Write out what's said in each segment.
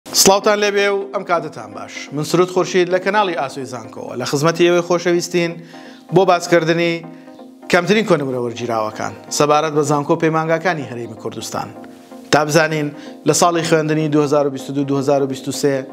سڵاوتان لێبێ و ئەم کاتەتان باش من سرود خورشید لە کەناڵی ئاسۆی زانکۆوە لە خزمەتی ئێوەی خۆشەویستین بۆ باسکردنی کەمترین کۆنمرە وەرگیراوەکان سەبارەت بە زانکۆ پەیمانگاکانی هەرێمی کوردستان تا بزانین لە ساڵی خوێندنی 2022 2023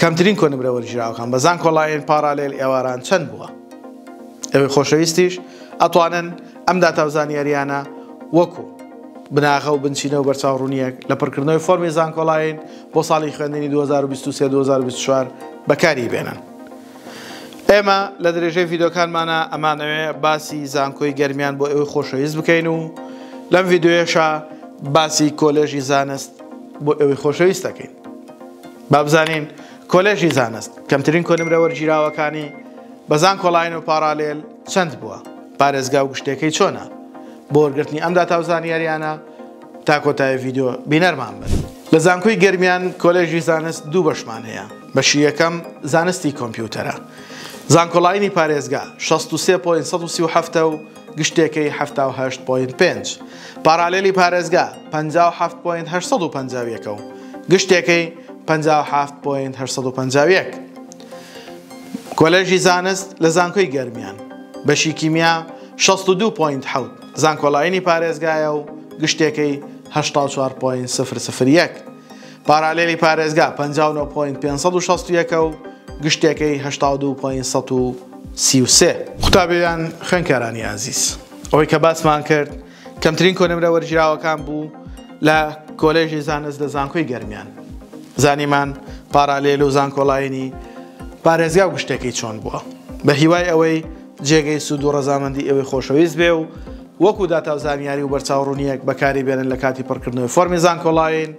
کەمترین کۆنمرە وەرگیراوەکان بە زانکۆڵایەن پارالێل ئێواران چەند بووە ئەوەی خۆشەویستیش ئەتوانن ئەم داتاوزانیاریانە وەکو بناغە و بنچینە و بەرچاوڕوونییەک لە پڕکردنەوەی فۆرمی زانکۆلاین بۆ ساڵی خوێندنی دوو هەزار و بیست و سێ دوو هەزار و بیست و چوار بەکاری بێنن. ئێمە لە درێژەی ڤیدۆکانمانە ئەمانەوێ باسی زانکۆی گەرمیان بۆ ئێوەی خۆشەویست بکەین و لەم ڤیدۆیەشە باسی کۆلێژی زانست بۆ ئێوەی خۆشەویست دەکەین. بابزانین کۆلێژی زانست کەمترین کۆنمرە وەرگیراوەکانی بەزان کۆڵین و پاراالێل چەند بووە پارێزگا و گشتێکەی چۆنە بۆ وەرگرتنی ئەم داتا و زانیاریانە تا کۆتای ڤیددیو بینەرمان بن لە زانکۆی گەرمیان کۆلێژی زانست دوو بەشمان هەیە بەشی یەکەم زانستی کۆمپیوتەرە زانکۆلاینی پارێزگا 63.7 و گشتێکەی 19.5 پارالێلی پارێزگا 57.851 و گشتێکەی 57.851 کۆلێژی زانست لە زانکۆی گەرمیان بەشی کیمیا شەست و دوو پۆینت حەوت زانکۆلاینی پارێزگایە و گشتێکەی هەشتا و چوار پۆینت سفر سفر یەک. پارالێلی پارێزگا پەنجا و نۆ پۆینت پێنج سەد و شەست و یەک ە و گشتێکەی هەشتا و دوو پۆینت سەد و سی و سێ. قوتابیان خوێنکارانی ئازیز ئەوەی کە باسمان کرد کەمترین کۆنمرە وەرگیراوەکان بوو لە کۆلێژی زانست لە زانکۆی گەرمیان. زانیمان پارالێل و زانکۆلاینی پارێزگا و گشتێکەی چۆن بووە. بە هیوای ئەوەی جێگەی سوود و ڕەزامەندی ئێوەی خۆشەویست بێ و وەکو داتا و زانیاری و بەرچاوڕوونییەک بەکاری بێنن لە کاتی پڕکردنەوەی فۆرمی زانکۆڵاین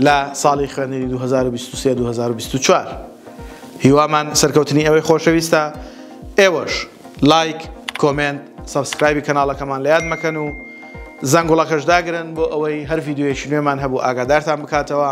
لە ساڵی خوێندنی دوو هەزار و بیست و سێ دوو هەزار و بیست و چوار. هیوامان سەرکەوتنی ئێوەی خۆشەویستە، ئێوەش لایک، کۆمێنت، سەبسکرایبی کەناڵەکەمان لە یاد مەکەن و زەنگوڵەکەش داگرن بۆ ئەوەی هەر ڤیدیۆیەکی نوێمان هەبوو ئاگادارتان بکاتەوە.